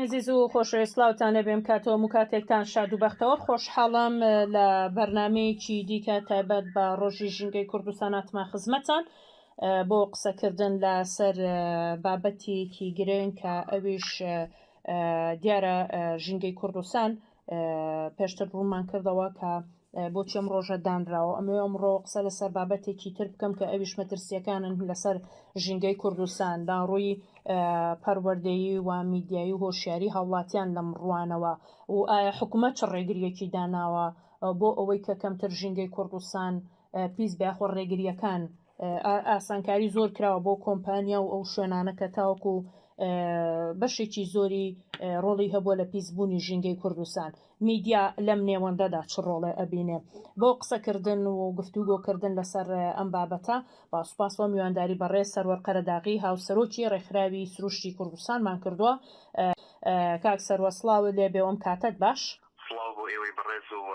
ئازیز و خۆشەویستلااوتانە بێم کاتەوە و کاتێکتان شاد و بەختەوە خۆشحاڵم لە بەرنمەیەکی دیکە تایبەت بە ڕۆژی ژینگەی کوردستاناتما خزمەتان بۆ قسەکردن لەسەر بابەتیەکی گرنگ کە ئەویش دیارە ژینگەی کوردستان پێشتر ڕوومان کردەوە کە بۆچی ئەم ڕۆژە دانراوە ئەمێ ئەمڕۆ قسە لەسەر بابەتێکی تر بکەم کە ئەویش مەترسیەکانن لەسەر ژینگەی کوردستاندا ڕووی پەروەردەیی و میدیایی و هۆشیاری هاوڵاتیان لەم ڕوانەوە و ئایا حکوومەت چ ڕێگریەکی داناوە بۆ ئەوەی کە کەمتر ژینگەی کوردستان پیس بەخۆ ڕێگریەکان ئاسانکاری زۆر کراوە بۆ کۆمپانیا و ئەو شوێنانە کە تاوەکو بەشێکی زۆری ڕۆڵی هەبووە لە پیسبوونی ژینگەی کوردستان میدیا لەم نێوەندەدا چ ڕۆڵێ ئەبینێ بۆ قسەکردن و گفتوگۆکردن لەسەر ئەم بابەتە با سوپاس بۆ میوانداری بەڕێز سەروەر قەرەداغی هاوسەرۆکی ڕێکخراوی سروشتی کوردستانمان کردووە کاک سەروەر سڵاوت لێبێ و ئەم کاتەت باش. سڵاو بۆ ئێوەی بەڕێز و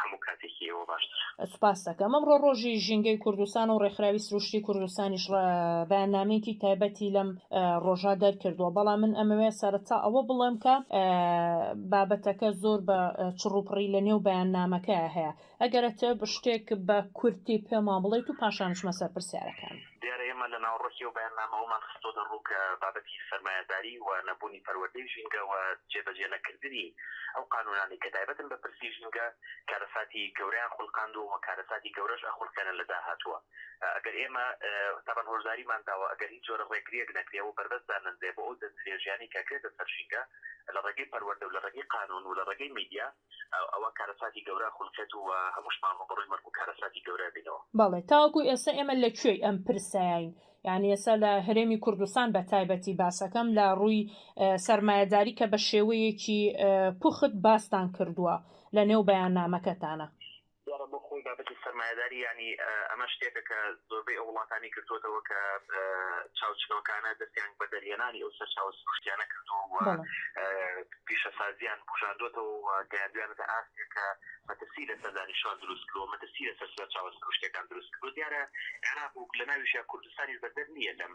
هەموو کاتێکی ئێوە باشتر. سوپاست دەکەم. ئەمڕۆ ڕۆژی ژینگەی کوردستانە و ڕێکخراوی سروشتی کوردستانیش بەیاننامەیەکی تایبەتی لەم ڕۆژە دەرکردووە، بەڵام من ئەمەوێ سەرەتا ئەوە بڵێم کە بابەتەکە زۆر بە چڕوپڕی لەنێو بەیاننامەکەیا هەیە، ئەگەر ئەتەوێت شتێک بە کورتی پێمان بڵێیت و پاشان بچمە سەر پرسیارەکان. دیارە ئێمە لە ناوەڕۆکی ئەو بەیاننامەوەمان خستۆتە ڕوو کە بابەتی سەرمایەداری و نەبوونی پەروەردەی ژینگە و جێبەجێ نەکردنی ئەو قانوونانەی کە تایبەتن بە پرسی ژینگە کارەساتی گەورەیان خولقاندووە و کارەساتی گەورەش ئەخولقێنن لە داهاتووە ئەگەر ئێمە تاوان هۆشداریمان داوە ئەگەر هیچ جۆرە ڕێگریەک نەکرێ و بەربەست دانەنرێ بۆ ئەو دەستدرێژیانەی کە ئەکرێتە سەر ژینگە لە ڕێگەی پەروەردە و لە ڕێگەی قانوون و لە ڕێگەی میدیا ئەوا کارەساتی گەورە خولقێت و هەمووشمان ڕووبەڕووی مەرگ و کارەساتی گەورە بینەوە. بەڵێ تاوەکو ئێستا ئێمە لە کوێی ئەم پرسەین یانی ئێستا لە هەرێمی کوردستان بە تایبەتی باسەکەم لە ڕووی سەرمایەداری کە بە شێوەیەکی پوخت باستان کردووە لە نێو بەیاننامەکەتانا. دیارە بۆ خۆی بابەتی سەرمایەداری یانی ئەمە شتێکە کە زۆربەی ئەو وڵاتانەی گرتووەتەوە کە چاوچنۆکانە دەستیان بە دەرهێنانی ئەو سەرچاوە سروشتیانە کردووە و پیشەسازیان بوژاندووەتەوە و گەیاندویانەتە ئاستێک کە مەترسی لەسەر دانیشتوان دروست کردووە، مەترسی لەسەر سەرچاوە سروشتیەکان دروست کردووە. دیارە عێراق و لەناویشیا کوردستانیش بەدەر نییە لەم.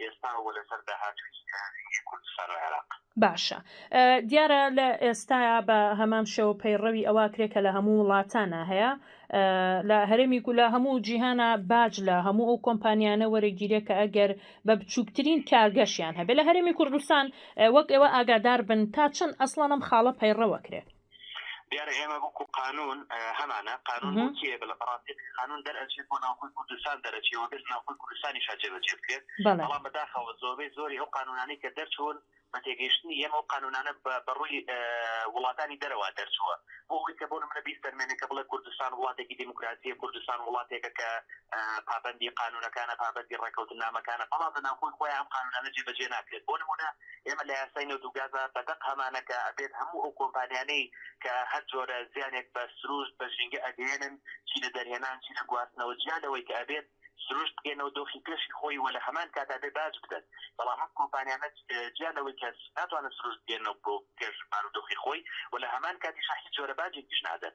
ئێستا و لەسەر داهاتووی فیلمی کورد سەر عێراق. باشە دیارە لە ئێستایا بە هەمان شێوە پەیڕەوی ئەوە کرێ کە لە هەموو وڵاتانە هەیە لە هەرێمی و لە هەموو جیهانە باج لە هەموو ئەو کۆمپانیانە وەرەگیرێ کە ئەگەر بە بچووکترین کارگەشیان هەبێ لە هەرێمی کوردستان وەک ئێوە ئاگادار بن تا چەند ئەسڵانم خاڵە پەیڕەوە کرێ دیارە ئێمە وەکو قانون هەمانە قانون کێ بە لە بەڕاستی قانون دەرەچێت بۆ ناوخۆی کوردستان دەرەچێەوە بێت ناوخۆی کوردستانی شا جێبەجێ بکرێت بەڵام بەداخەوە زۆربەی زۆری ئەو قانونانەی کە دەرچوون بە تێگەیشتنی ئێمە و قانونانە بە ڕووی وڵاتانی دەرەوە دەرچووە بۆ ئەوی کە بۆ منە بیست دەرمێنێک کە بڵێ کوردستان وڵاتێکی دیموکراتیە کوردستان وڵاتێکە کە پابندی قانونەکانە پابندی ڕێکەوتنامەکانە بەڵام لە ناوخۆی خۆیان قانونانە جێبەجێ ناکرێت بۆ نمونە ئێمە لە یاسای نەوت و گازا بە دەق هەمانە کە ئەبێت هەموو ئەو کۆمپانیانەی کە هەر جۆرە زیانێک بە سروشت بە ژینگە ئەگەیەنن چی لە دەرهێنان چی لە گواستنەوە جیا لەوەی کە ئەبێت سروشت بگەنەوە دۆخی پێشی خۆی و لە هەمان کات ئەبێت باج بدەن بەڵام ئەم کۆمپانیانە جیا لەوەی کە ناتوانن سروشت بگەنەوە بۆ پێش بارودۆخی خۆی و لە هەمان کاتیشا هیچ جۆرە باجێکیش نادەن.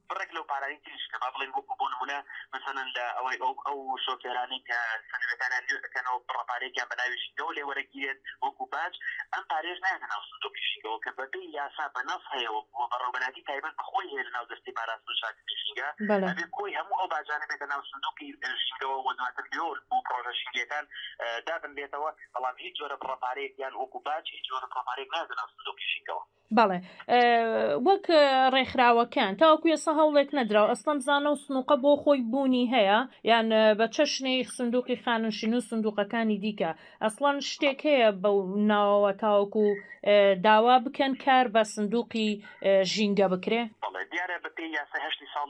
بڕێک لەو پارانەی تریش کە با بڵێین وەکو بۆ نموونە مەسەلەن لە ئەوەی ئەو ئەو شۆفێرانەی کە سەنەدەکانیان نوێ ئەکەنەوە بڕە پارەیەکیان بە ناوی ژینگەوە لێ وەرەگیرێت وەکو باج ئەم پارەیەش نایەتە ناو سندوقی ژینگەوە کە بە پێی یاسا بە نەص هەیە وە وە بەڕێوەبەرایەتی تایبەت بە خۆی هەیە لە ناو دەستەی پاراستن و شاردنی ژینگە بەڵێ. ئەبێ کۆی هەموو ئەو باجانە بێتە ناو سندوقی ژینگەوە وە دواتر لۆ بۆ پڕۆژە ژینگەیەکان دابنرێتەوە بەڵام هیچ جۆرە بڕە پارەیەک یان وەکو باج هیچ جۆرە بڕە پارەیەک نایەتە ناو سندوقی ژینگەوە. بەڵێ وەک ڕێکخراوەکان تاوەکو ێستا هەوڵێک نەدراوە ئەسڵم بزانە و سنووقە بۆ خۆی بوونی هەیە یان بە چەشنی سندوقی خاننشین و سندوقەکانی دیکە ئەسڵەن شتێک هەیە بە ناوەوە تاوەکو داوا بکەن کار بە سندوقی ژینگە بکرێ دیارە بە پێی یاسای هەشتی ساڵ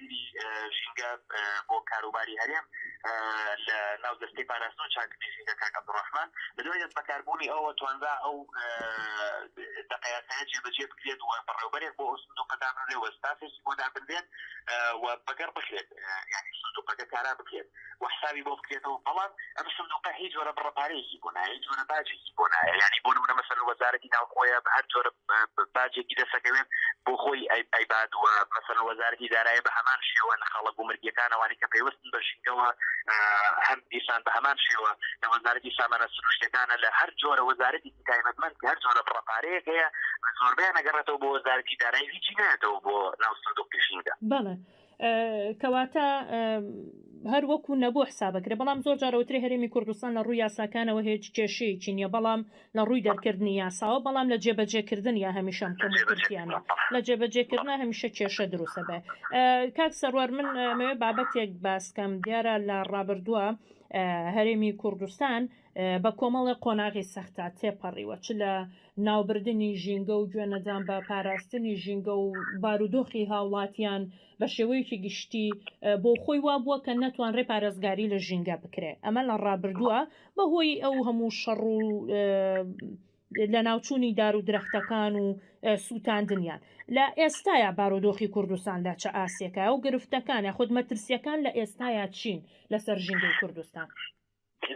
وەزیری ژینگە بۆ کاروباری هەرێم لە ناو دەستەی پاراستن و چاککردنی ژینگە کاک عەبدولڕەحمان لە دوای دەستبەکاربوونی ئەوە توانرا ئەو دەقەیاسایە جێبەجێ بکرێت و بەڕێوبەرێک بۆ ئەو سندوقە دابنرێ و ستافێکی بۆ دابنرێت و بەگەڕ بکرێت یانی سندوقەکە کارا بکرێت. و حسابی بۆ بکرێتەوە بەڵام ئەم سندوقە هیچ جۆرە بڕە پارەیەکی بۆ نایە هیچ جۆرە باجێکی بۆ نایە یانی بۆ نمونە مەسەلەن وەزارەتی ناوخۆیە بە هەر جۆرە باجێکی دەسەکەوێت بۆ خۆی ئەی ئەیبات و مەسەلەن وەزارەتی دارایە بە هەمان شێوە لە خەڵک و مرگیەکانەوانی کە پەیوەستن بە ژینگەوە هەم دیسان بە هەمان شێوە لە وەزارەتی سامانە سروشتەکانە لە هەر جۆرە وەزارەتی تایبەتمەند کە هەر جۆرە بڕە پارەیەک هەیە زۆربەیان نەگەڕێتەوە بۆ وەزارەتی دارایی هیچی نایەتەوە بۆ ناو سندوقی ژینگە. بەڵێ کەواتە هەر وەکو نەبوو حسابەکرێ بەڵام زۆر جارەوتری هەرێمی کوردستان لە ڕووی یاساکانەوە هێج کێشەیەکی نییە بەڵام لە ڕووی دەرکردنی یاساوە بەڵام لە جێبەجێکردن یا هەمیشەم کەم کورتیانە لە جێبەجێکردنا هەمیشە کێشە دروستە بێ کاک سەروەر من مەوێ بابەتێک باسکەم دیارە لە ڕابردووە هەرێمی کوردستان بە کۆمەڵێ قۆناغی سەختدا تێپەڕیوە، چ لە ناوبردنی ژینگە و گوێنەدان بە پاراستنی ژینگە و بارودۆخی هاوڵاتیان بە شێوەیەکی گشتی بۆ خۆی وا بووە کە نەتوانرێ پارێزگاری لە ژینگە بکرێ ئەمە لە ڕابردووە بە هۆی ئەو هەموو شەڕ و لەناوچوونی دار و درەختەکان و سووتاندنیان لە ئێستایا بارودۆخی کوردستان لە چە ئاستێکە و گرفتەکان یاخود مەترسیەکان لە ئێستایا چین لەسەر ژینگەی کوردستان؟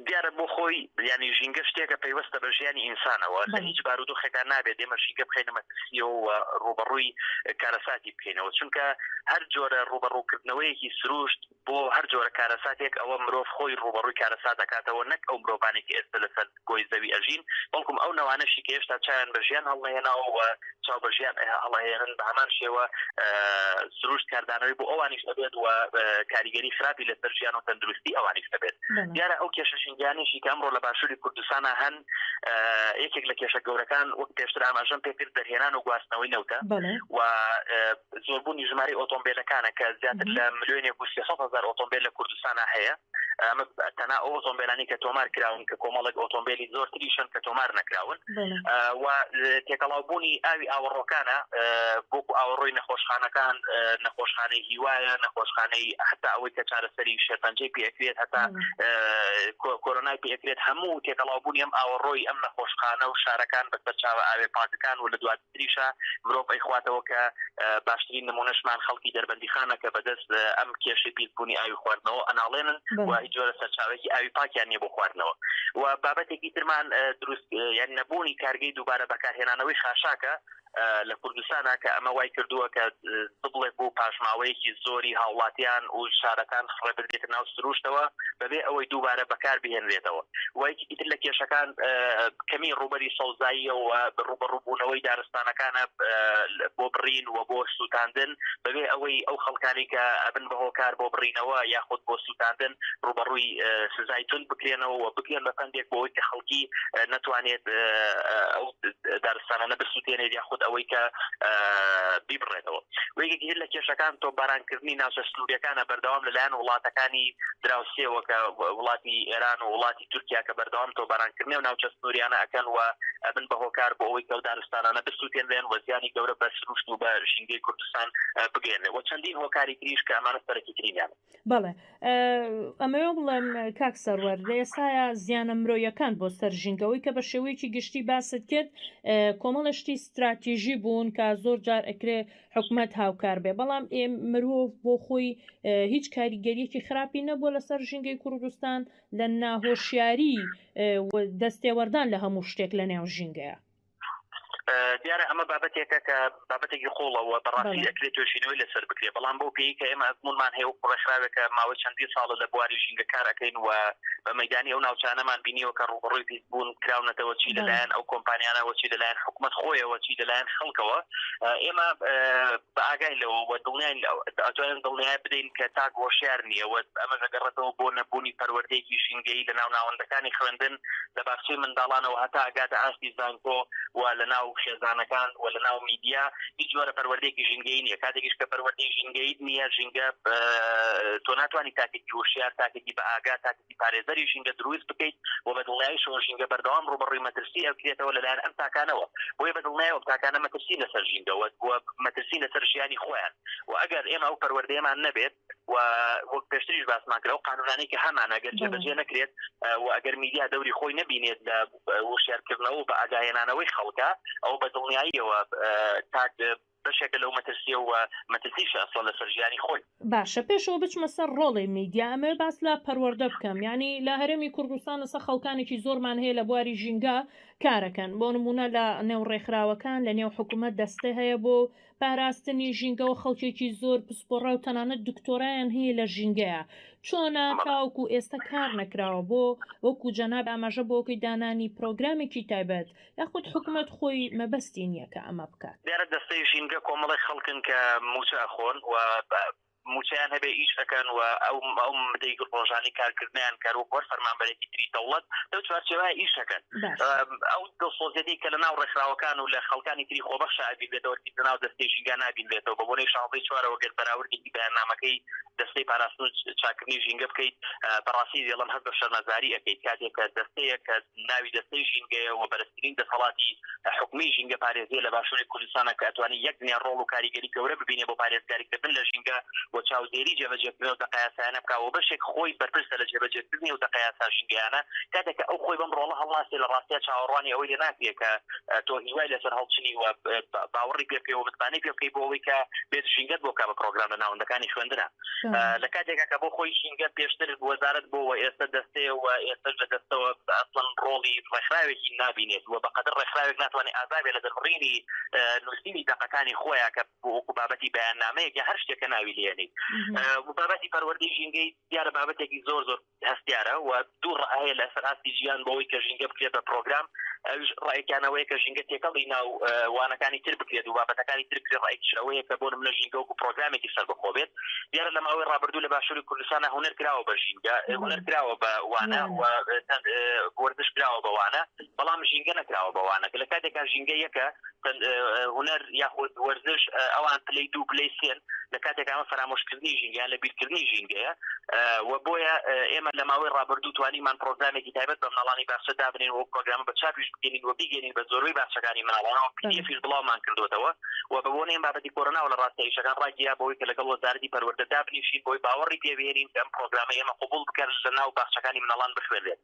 دیارە بۆ خۆی یانی ژینگە شتێکە پەیوەستە بە ژیانی ئینسانەوە لە هیچ بارودۆخێکا نابێت ئێمە ژینگە بخەینە مەترسیەوە و ڕووبەڕووی کارەساتی بکەینەوە چونکە هەر جۆرە ڕووبەڕووکردنەوەیەکی سروشت بۆ هەر جۆرە کارەساتێک ئەوە مرۆڤ خۆی ڕووبەڕووی کارەسات دەکاتەوە نەک ئەو مرۆڤانێک ئێستا لەسەر گۆی زەوی ئەژین بەڵکم ئەو نەوانەشی کە هێشتا چاویان بە ژیان هەڵنەهێناوە و چاو بە ژیان هەڵئەهێنن بە هەمان شێوە سروشت کاردانەوەی بۆ ئەوانیش ئەبێت و کاریگەری خراپی لەسەر ژیان و تەندروستی ئەوانیش دەبێت دیارە ئەو کێشە ژینگانیشی کە ئەمڕۆ لە باشووری کوردستانە هەن یەکێک لە کێشە گەورەکان وەک پێشتر ئاماژەم پێکرد دەرهێنان و گواستنەوەی نەوتە و زۆربوونی ژماری ئۆتۆمبیلەکانە کە زیاتر لە ملیۆنێک و هزار ئۆتۆمبیل لە کوردستانە هەیە ئەمە تەنها ئەو ئۆتۆمبیلانی کە تۆمار کراون کە کۆمەڵێک ئۆتۆمبیلی زۆر تریشن کە تۆمار نەکراون و تێکەڵاوبوونی ئاوی ئاوەڕۆکانە بۆکو ئاوەڕۆی نەخۆشخانەکان نەخۆشخانەی هیوایە نەخۆشخانەی حتا ئەوەی کە چارەسەری شێرپەنجەی پێکرێت هەتا کۆرۆنای پێکرێت هەموو تێکەڵاوبوونی ئەم ئاوەڕۆی ئەم نەخۆشخانە و شارەکان بە سەرچاوە ئاوێ پاکەکان و لە دوات تریشا مرۆڤ ئەیخواتەوە کە باشترین نمونەشمان خەڵکی دەربەندیخانە کە بەدەست ئەم کێشەی پیسبونی ئاوی خواردنەوە ئەناڵێنن و هیچ جۆرە سەرچاوەیەکی ئاوی پاکیان نیە بۆ خواردنەوە و بابەتێکی ترمان دروست یان نەبونی کارگەی دوبارە بەکارهێنانەوەی خاشاکە لە کوردستانا کە ئەمە وای کردوە کە ببڵێ بوو پاشماوەیەکی زۆری هاوڵاتیان و شارەکان خڕێبردێتە ناو سرووشتەوە بەبێ ئەوەی دووبارە بەکار بهێنرێتەوە و یەکێکی تر لە کێشەکان کەمی ڕووبەری سەوزاییە و ڕووبەڕووبوونەوەی دارستانەکانە بۆ بڕین و بۆ سووتاندن بەبێ ئەوەی ئەو خەڵکانی کە ئەبن بە هۆکار بۆ بڕینەوە یاخود بۆ سووتاندن ڕووبەڕووی سزای توند بکرێنەوە و بکرێن بە پەندێک بۆ ئەوەی کە خەڵکی نەتوانێت ئەو دارستانانە بسوتێنێت یا خود ئەوەی کە بیبڕێتەوە وەیەکی هەر لە کێشەکان تۆ بارانکردنی ناوچە سنووریەکانە بەردەوام لەلایەن وڵاتەکانی دراوسێەوە کە وڵاتی ئێران و وڵاتی تورکیا کە بەردەوام تۆ بارانکردنی و ناوچە سنووریانە ئەەکەن و ئەبن بە هۆکار بۆ ئەوەی کەو دارستانانە بسووتێنێن وەزیانی گەورە بە سروشت و بە ژینگەی کوردستان بگەێنێ و چەندین هۆکاری تریش کە ئەمانە سەرەکی ترینیان بەڵێ ئەمەوێ بڵێم کاک سەروەر لە ئێستاە زیانە مرۆیەکان بۆ سەر ژینگەەوەی کە بە شێوەیەکی گشتی باست کرد کۆمەڵە شتی استراتیژی بوون کە زۆر جار ئەکرێ حکومت هاوکار بێ بەڵام ئێ مرۆڤ بۆ خۆی هیچ کاریگەریەکی خراپی نەبووە لەسەر ژینگەی کوردستان لە ناهۆشیاری دەستێوەردان لە هەموو شتێک لە نێو ژینگەیە دیارە ئەمە بابەتێکە کە بابەتێکی قوڵەوە بەڕاستی ئەکرێت توێشینەوەی لەسەر بکرێ بەڵام بۆ پێی کە ئێمە ئەزمونمان هەیە و ڕێکخراوێکە ماوەی چەندی ساڵە لە بواری ژینگە کارەکەین و بە مەدانی ئەو ناوچانەمان بینیەوە کە ڕوبڕوی پیس بوون کراونەتەوە چی لەلایەن ئەو کۆمپانیانەوە چی لەلایەن حکوومەت خۆیەوە چی لەلایەن خەڵکەوە ئێمە بە ئاگای لەوە وە دڵنیان ئەتوانن دڵنیای بدەین کە تاک هۆشیار نییەوە ئەمە دەگەڕێتەوە بۆ نەبوونی پەروەردەیەکی ژینگەی لە ناو ناوەندەکانی خوێندن لە باخچەی منداڵانەوە هەتا ئەگاتە ئاستی زانکۆ و لە ناو خێزانەکان و لە ناو میدیا هیچ جۆرە پەروەردەیەکی ژینگەیی نییە کاتێکیش کە پەروەردەی ژینگەییت نییە ژینگە تۆ ناتوانی تاکێکی هۆشیار تاکێکی بە ئاگا تاکێکی پارێزەری ژینگە دروست بکەیت و بە دڵنیایشەوە ژینگە بەردەوام ڕووبەڕووی مەترسی ئەکرێتەوە لەلایەن ئەم تاکانەوە بۆیە بە دڵنیایەوە ئەم تاکانە مەترسین لەسەر ژینگەوە و مەترسین لەسەر ژیانی خۆیان و ئەگەر ئێمە ئەو پەروەردەیەمان نەبێت و وەک پێشتریش باسمان کرد ئەو قانونانەی کە هەمان ئەگەر جێبەجێ نەکرێت و ئەگەر میدیا دەوری خۆی نەبینێت لە وشارکردنەوە و بە ئاگاهێنانەوەی خەڵکە ئەو بە دڵنیاییەوە تاک بەشێکە لەو مەترسیە و مەترسیش ئەسڵ لەسەر ژیانی خۆی باشە پێشەوە بچمە سەر ڕۆڵی میدیا ئەمەوێ باس لە پەروەردە بکەم ینی لە هەرێمی کوردستان لەسە خەڵکانێکی زۆرمان هەیە لە بواری ژینگە کارەکەن بۆ نمونە لە نێو ڕێکخراوەکان لە نێو حکوومەت دەستە هەیە بۆ پاراستنی ژینگەوە خەڵکێکی زۆر پسپۆڕا و تەنانەت دکتۆرایان هەیە لە ژینگەیە چۆنە تاوەکو ئێستا کار نەکراوە بۆ وەکو جەناب ئاماژە بۆکەی دانانی پرۆگرامێکی تایبەت یاخود حکومەت خۆی مەبەستی نییە کە ئەمە بکات. دیارە دەستەی ژینگە کۆمەڵێک خەڵکن کە مووچە ئەخۆن و موچەیان هەبێ ئیش ئەکەن و ئەو ئەو مدەی ڕۆژانی کارکردنیان کەر وەک وەر فەرمانبەرێکی تری دەوڵەت لەو چوارچێوە ئیش ئەکەن ئەو دڵسۆزێتی کە لە ناو ڕێکخراوەکان و لە خەڵکانی تری خۆبەخش ئابیبێتەوە کیت لە ناو دەستەی ژینگە نابینرێتەوە بە بۆنەی شانزەی چوارەوە گەر بەراوردێکی بەیاننامەکەی دەستەی پاراستن و چاکردنی ژینگە بکەیت بەڕاستی دێڵم هەست بە شەرمەزاری ئەەکەیت کاتێک کە دەستەیە کە ناوی دەستەی ژینگەیە و بەرز گرنگترین دەسەڵاتی حکومی ژینگە پارێزیە لە باشوری کوردستانە کە ئەتوانێ یەک دنیا ڕۆڵ و کاریگەری گەورە ببینێ بۆ پارێزگاری کردن لە ژینگە و چاودێری جێبەجێکردن ئەو دەقە یاسایانە بکا و بەشێک خۆی بەرپرسە لە جێبەجێکردنی ئەو دەقە یاسا ژینگەیانە کاتێ کە ئەو خۆی بەم ڕۆڵە هەڵناسێ لە ڕاستیا چاوەڕوانی ئەوەی لێ ناکرێ کە تۆ هیوای لەسەر هەڵچنی و باوەڕی پێ بکەی و متمانەی پێ بکەی بۆ ئەوەی کە بێت ژینگەت بۆ بکا بە پرۆگرام لە ناوەندەکانی خوێندنە. لە کاتێکا کە بۆ خۆی ژینگە پێشتر وەزارت بۆ و ئێستا دەستەیە و ئێستش لە دەستەوە ئەسڵەن ڕۆڵی ڕێکخراوێکی نبینێت و بەقەدر ڕێکخراوێک ناتوانێت ئازابێ لە دەربڕینی نووسینی دەقەکانی خۆیان کە بۆ وەکو بابەتی بەیان نامەیەک هەر شتێکە ناوی لێنیت بابەتی پەروەردەی ژینگەی دیارە بابەتێکی زۆر زۆر هەستیارە و دوو ڕەئ هەیە لەسەر ئاستی ژیان بۆ ئەوەی کە ژینگە بکرێت بە پرۆگرام ئەویش ڕەئێکیان ئەوەیە کە ژینگە تێکەڵی ناو وانەکانی تر بکرێت و بابەتەکانی تر بکرێت ڕەئێکیش ئەوەیە کە بۆ نمونە ژینگە وەکو پرۆگرامێکی سەربەخۆ بێت دیارە لە ماوەی ڕابردوو لە باشوری کوردستانا هونەر کراوە بە ژینگە هونەر کراوە بە وانە و چەند وەرزش کراوە بە وانە بەڵام ژینگە نەکراوە بە وانەکە لە کاتێکا ژینگە یەکە تەن هونەر یاخود وەرزش ئەوان پلەی دوو پلەی سێن لە کاتێک ئەمە فەرامۆشکردنی ژینگەیان لە بیرکردنی ژینگەیە و بۆیە ئێمە لە ماوەی ڕابردوو توانیمان پرۆگرامێکی تایبەت بە مناڵانی باخچە دابنین و پرۆگرامە بە چاپیش بگەین و بیگەین بە زۆربەی باخچەکانی مناڵانەوە پیدیفیش بڵاومان کردوتەوە و بە بۆنەی بابەتی کۆرۆناوە لە ڕاستە ئیشەکان ڕاگیرا بەوەی کە لەگەڵ وەزارەتی پەروەردە دابنیشین بۆی باوەڕی پێبهێنین ئەم پرۆگرامە ئێمە قبوڵ بکەن لە ناو باخچەکانی مناڵان بخوێنرێت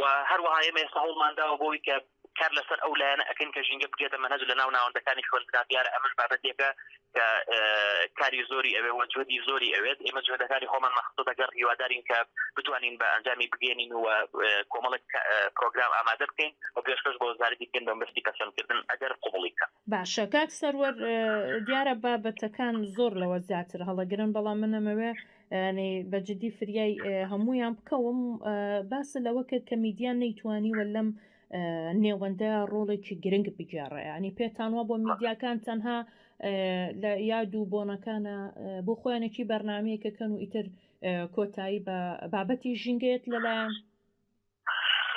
و هەروەها ئێمە ئێستا هەوڵمان داوە بۆی کە کار لەسەر ئەو لایەنە ئەەکەین کە ژینگە بگێتە مەنهەج لە ناو ناوەندەکانی خوێندنا دیارە ئەمەش بابەتێکە کە کاری زۆری ئەوێ وە جوێدی زۆری ئەوێت ئێمە جوێدەکانی خۆمان مەخصوص دەگەڕ هیوادارین کە بتوانین بە ئەنجامی بگەێنین و کۆمەڵک پرۆگرام ئامادە بکەین و پێشکەش بۆ وەزارەتی بکەین بە مستی پەسەندکردن ئەگەر قوبڵی بکە باشە کاک سەروەر دیارە بابەتەکان زۆر لەوە زیاتر هەڵەگرن بەڵام منەمەوێ یانی بە جدی فریای هەموویان بکەوم باس لەوە کرد کە میدیا نەیتوانی وە لەم نێوەندە ڕۆڵێکی گرنگ بگێڕێ ینی پێتانوا بۆ میدیاکان تەنها لە یاد و بۆنەکانە بۆ خۆیانێکی بەرنمەیەکەکەن و ئیتر کۆتایی بە بابەتی ژینگەیەت لەلایەن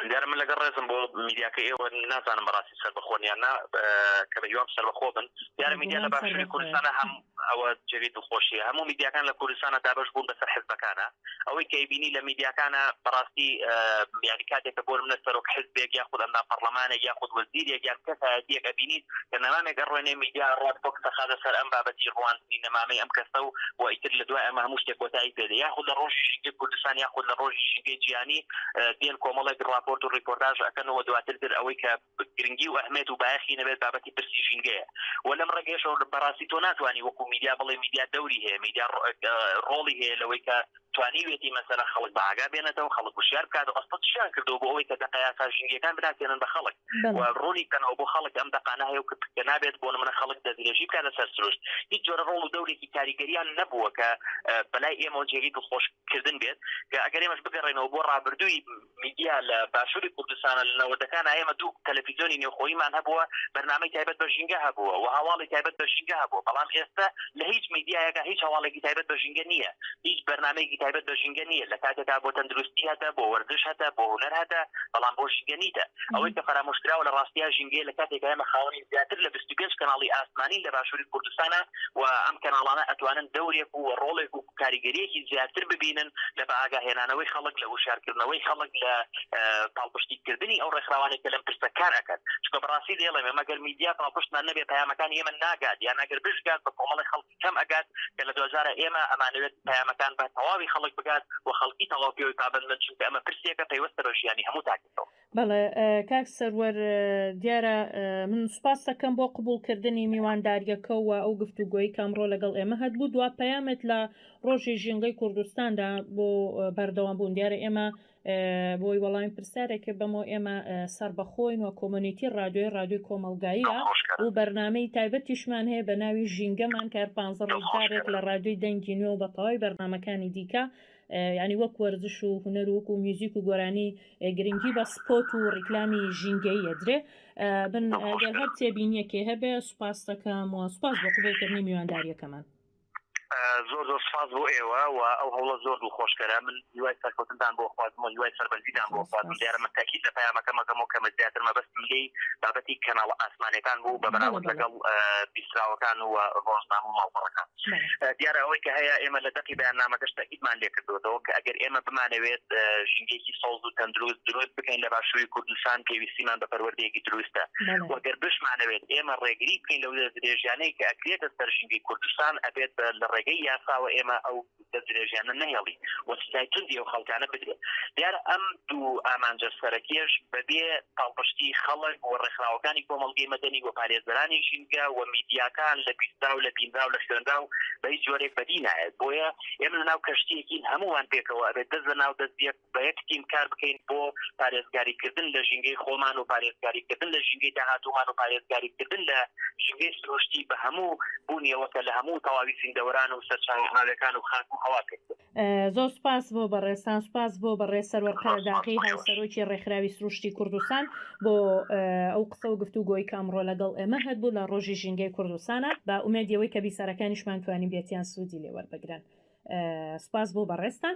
دیارە من لەگەڵ ڕێزم بۆ میدیاکەی ئێوە نازانم بەڕاستی سەربەخۆن یان نا کە بەهیوام سەربەخۆ بن دیارە میدیا لە باشووری کوردستانە هەم ئەوە جێگەی دڵخۆشیە هەموو میدیاکان لە کوردستانە دابەش بوون بەسەر حزبەکانە ئەوەی کە ئەیبینی لە میدیاکانە بەڕاستی یاری کاتێکە بۆ منە سەرۆک حزبێک یاخود ئەندا پەرلەمانێک یاخود وەزیرێک یان کەسایەتیەک ئەبینی کە نەمامێک ئەڕوێنێ میدیا ئەڕوات بۆ قسەخازە سەر ئەم بابەتی ڕواندنی نەمامەی ئەم کەسە و و ئیتر لە دوای ئەمە هەموو شتێ کۆتایی پێ دێ یاخود لە ڕۆژی ژینگەی کوردستان یاخود لە ڕۆژی ژینگەی جیهانی دێن کۆمەڵێک ڕاپۆرت و ڕیپۆرتاژ ئەکەن و دواتر تر ئەوەی کە گرنگی و ئەهمێت و بایەخی نەبێت بابەتی پرسی ژینگەیە و لەم ڕێگەیەشەوە بەڕاستی تۆ ناتوانی وەکوو میدیا بڵێ میدیا دەوری هەیە میدیا ڕۆڵی هەیە لەوەی کە توانیوێتی مەسەلە خەڵک بە ئاگا بێنێتەوە خەڵک وشیار بکاتەوە ئەسڵەن چیان کردووە بۆ ئەوەی کە دەقە یاسا ژینگەکان بناسێنن بە خەڵک و ڕوونی بکەنەوە بۆ خەڵک ئەم دەقانە هەیە و کە نابێت بۆ نمونە خەڵک دەستدرێژی بکات لە سەر سروشت هیچ جۆرە ڕۆڵ و دەورێکی کاریگەریان نەبووە کە بەلای ئێمەوە جێگەی دڵخۆش کردن بێت کە ئەگەر ئێمەش بگەڕێنەوە بۆ ڕابردووی میدیا لە باشوری کوردستانە لە نەوەدەکانا ئێمە دوو تەلەفیزۆنی نێوخۆییمان هەبووە بەرنامەی تایبەت بە ژینگە هەبووە و هەواڵی تایبەت بە ژینگە هەبووە بەڵام ئێستە لە هیچ میدیایەکا هیچ هەواڵێکی تایبەت بە ژینگە نییە هیچ بەرنامەیەکی تایبەت بە ژینگە نییە لە کاتێکا بۆ تەندروستی هەتە بۆ وەرزش هەتە بۆ هونەر هەتە بەڵام بۆ ژینگە نیتە ئەوەی کە فەرامۆشکراوە لە ڕاستیا ژینگەیە لە کاتێکا ئێمە خاوەنی زیاتر لە بیست و پێنج کەناڵی ئاسمانین لە باشوری کوردستانا و ئەم کەناڵانە ئەتوانن دەورێک و ڕۆڵێک و کاریگەریەکی زیاتر ببینن لە بەئاگاهێنانەوەی خەڵک لە هۆشیارکردنەوەی خەڵک لە پاڵپشتی کردنی ئەو ڕێکخراوانەی کە لەم پرسە کار ئەکەن چونکە بەڕاستی دەیڵێم ئێمە گەر میدیا پاڵپشتمان نەبێت پەیامەکانی ئێمە ناگات یان ئەگەر بشگات بە کۆمەڵی خەڵکی کەم ئەگات کە لە دواجارە ئێمە ئەمانەوێت پەیامەکان بە تەواوی خەڵک بگات و خەڵکی تەواو پێوەی پابەند بن چونکە ئەمە پرسێکە پەیوەستە بە ژیانی هەموو تاکێکەوە. بەڵێ کاک سەروەر دیارە من سوپاس دەکەم بۆ قبولکردنی میوانداریەکەەوە ئەو گفت و گۆی کامڕۆ لەگەڵ ئێمە هەبوو دوا پەیامێت لە ڕۆژی ژینگەی کوردستاندا بۆ بەردەوام بوون دیارە ئێمە بۆی وەڵامی پرسیارێکە بەمۆ ئێمە سربەخۆین و کۆمەنیتی ڕادیۆی ڕادوی کۆمەلگاییە و بەرنمەی تایبەتیشمان هەیە بە ناوی ژینگەمان کار پ ڕزارێک لە ڕادوی دەنگی نوێ و بە تەواوی بەرنمەکانی دیکە یعنی وەک وەرزش و هوەر وک و میوزیک و گۆرانی گرنگی بە سپۆت و ڕیکلامی ژینگەی یەدرێ بن گەر هەر تێبینیەکێ هەبێ سوپاستەکەم و سوپاس بۆ قوبڵکردنی میوانداریەکەمان زۆر زۆر سپاس بۆ ئێوە و ئەو هەوڵە زۆر دڵ خۆشکەرە من هیوای سەرکەوتنتان بۆ خوازم و هیوای سەربەرزیدان بۆ خوازم دیارە من تاکیید لە پەیامەکەمەکەم و کە من زیاتر مەبەست ملی بابەتی کەناڵە ئاسمانەکان بوو بە بەراورد لەگەڵ بیستراوەکان و ڕۆژنامە و ماڵپەڕەکان دیارە ئەوەی کە هەیە ئێمە لە دەقی بەیاننامەکەش تەئکیدمان لێ کردۆتەوە کە ئەگەر ئێمە بمانەوێت ژینگەیەکی سەوز و تەندروست دروست بکەین لە باشووری کوردستان پێویستیمان بە پەروەردەیەکی دروستە و گەر بشمانەوێت ئێمە ڕێگری بکەین لەو دەستدرێژیانەی کە ئەکرێتە سەر ژینگەی کوردستان ئەبێت لە ڕێگەی یاساوە ئێمە ئەو دەست درێژیانە نەهێڵی و سزای توندی ئەو خەڵکانە بدرێ. دیارە ئەم دوو ئامانجە سەرەکیەش بەبێ پاڵپشتی خەڵک و ڕێکخراوەکانی کۆمەڵگەی مەدەنی و پارێزەرانی ژینگە و میدیاکان لە بیسترا و لە بینرا و لە خوێنرا و بە هیچ جۆرێک بەدی نایەت. بۆیە ئێمە لە ناو کەشتیەکین هەموومان پێکەوە ئەبێ دەست لە ناو دەست یەک. بە یەک تیم کار بکەین بۆ پارێزگاریکردن لە ژینگەی خۆمان و پارێزگاریکردن لە ژینگەی داهاتوومان و پارێزگاریکردن لە ژینگەی سروشتی بە هەموو بوونیەوە کە لە هەموو تەواوی زیندەوەران و سەرچاوە ئاویەکان و خاک و هەوا پێک دێت. زۆر سوپاس بۆ بەڕێزتان، سوپاس بۆ بەڕێز سەروەر قەرەداغی هاوسەرۆکی ڕێکخراوی سروشتی کوردستان بۆ ئەو قسە و گفتوگۆی کە ئەمڕۆ لەگەڵ ئێمە هەبوو لە ڕۆژی ژینگەی کوردستانا بە ئومێدی ئەوەی کە بیسەرەکانیشمان توانیبێتیان سوودی لێ وەربگرن سوپاس بۆ بەڕێزتان.